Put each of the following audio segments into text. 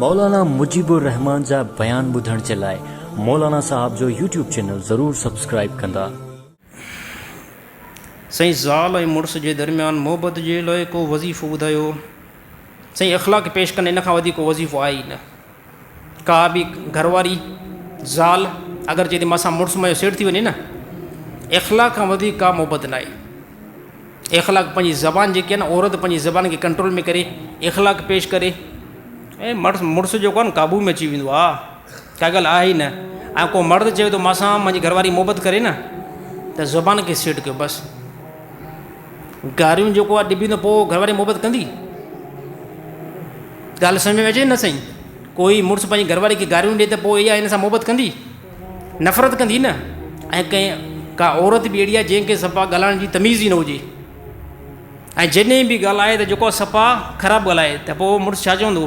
مولانا مجيب الرحمان جا بيان ٻڌڻ جي لاء مولانا صاحب جو يوٽيوب چينل ضرور سبسڪرائيب ڪندا. سائين زال ۽ مڙس جي درميان محبت جي لاء ڪو وظيفو ٻڌايو. سائين اخلاق پيش ڪن ان کان وڌيڪ ڪو وظيفو آهي ئي نه. ڪا به گهر واري، زال، اگر جي ماء سان مڙس مئي سيڙ ٿي وڃي نه اخلاق کان وڌيڪ ڪا محبت نه آهي. اخلاق پنهنجي زبان جيڪي آهي نه عورت پنهنجي زبان کي ڪنٽرول ۾ ڪري اخلاق پيش ڪري ۽ مڙس مڙس جيڪو آهي نه قابو ۾ اچي ويندو آهي ڪا ڳالهه آهي ئي نه ۽ ڪو مرد چوي ٿو ماء سان منهنجي گهر واري محبت ڪري نه ته زبان کي سيٽ ڪيو بس. گاريون جيڪو آ ڏبي ته پو گهر واري محبت ڪندي ڳالهه سمجهه ۾ اچي نه سائين ڪوئي مڙس پنهنجي گهر واري کي گاريون ڏي ته پو اها هن سان محبت ڪندي نفرت ڪندي نه ۽ ڪنهن ڪا عورت به اهڙي آ جنهن کي صفا ڳالهائڻ جي تميز ئي نه هجي ۽ جڏهن به ڳالهائي ته جيڪو صفا خراب ڳالهائي ته پو مڙس ڇا چوندو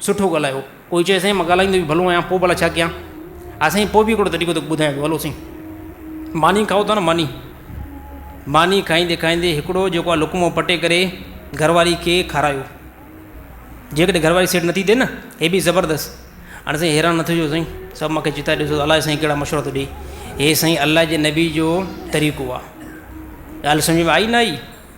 سٺو ڳالهايو. ڪوئي چيو سائين مان ڳالهائيندو به ڀلو آهيان پوء ڀلا ڇا ڪيان؟ ها سائين پوء به هڪڙو طريقو توکي ٻڌايان ٿو هلو سائين ماني کائو ٿا نه ماني ماني کائيندي کائيندي هڪڙو جيڪو آهي لقمو پٽي ڪري گهر واري کي کارايو جيڪڏهن گهر واري سيٽ نٿي ٿئي نه هي به زبردست هاڻي سائين حيران نه ٿجو سائين سڀ مونکي چتا ڏسو الاء سائين ڪهڙا مشورا ٿو ڏئي هي سائين الله جي نبي جو طريقو آهي ڳالهه سمجهه ۾ آئي نه آئي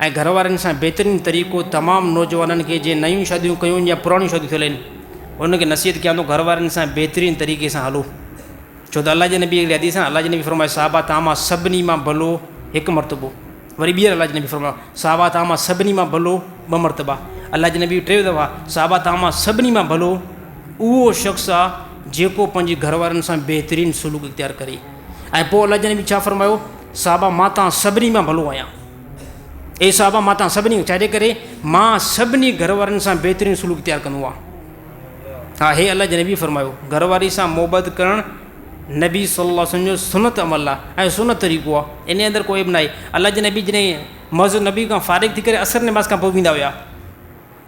۽ گهر وارين سان بهترين طريقو تمام نوجوانن کي جنهن نيون شاديون ڪيون يا پراڻيون شاديون ٿيل آهن انهن کي نصيحت ڪيان ٿو گهر وارين سان بهترين طريقي سان هلو ڇو ته الله جي نبي هڪڙي حديث ۾ الله جي نبي فرمايو صحابه توهان مان سڀني مان ڀلو هڪ مرتبو وري ٻيهر الله جي نبي فرمايو صحابه توهان مان سڀني مان ڀلو ٻه مرتبا الله جي نبي ٽي دفعا صحابه توهان مان سڀني مان ڀلو اهو شخص آهي جيڪو پنهنجي گهر وارن سان بهترين سلوڪ اختيار ڪري ۽ پوء الله جي نبي ڇا فرمايو صحابه مان توهان سڀني مان ڀلو آهيان. اي صحابه مان تان سڀني ڇا جي ڪري مان سڀني گهر وارن سان بهترين سلوڪ اختيار ڪندو آهيان ها هي الله جي نبي فرمايو گهر واري سان محبت ڪرڻ نبي صلي الله وسلم جو سنت عمل آهي ۽ سنت طريقو آهي ان اندر ڪو عيب ناهي الله جي نبي جڏهن مسجد نبي کان فارغ ٿي ڪري اثر نماز کان پوء ويندا هيا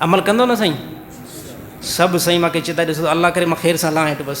عمل ڪندو نه سائين سڀ سائين ماکي چتائي ڏسو ته الله ڪري مان خير سان لهان هيٺ بس.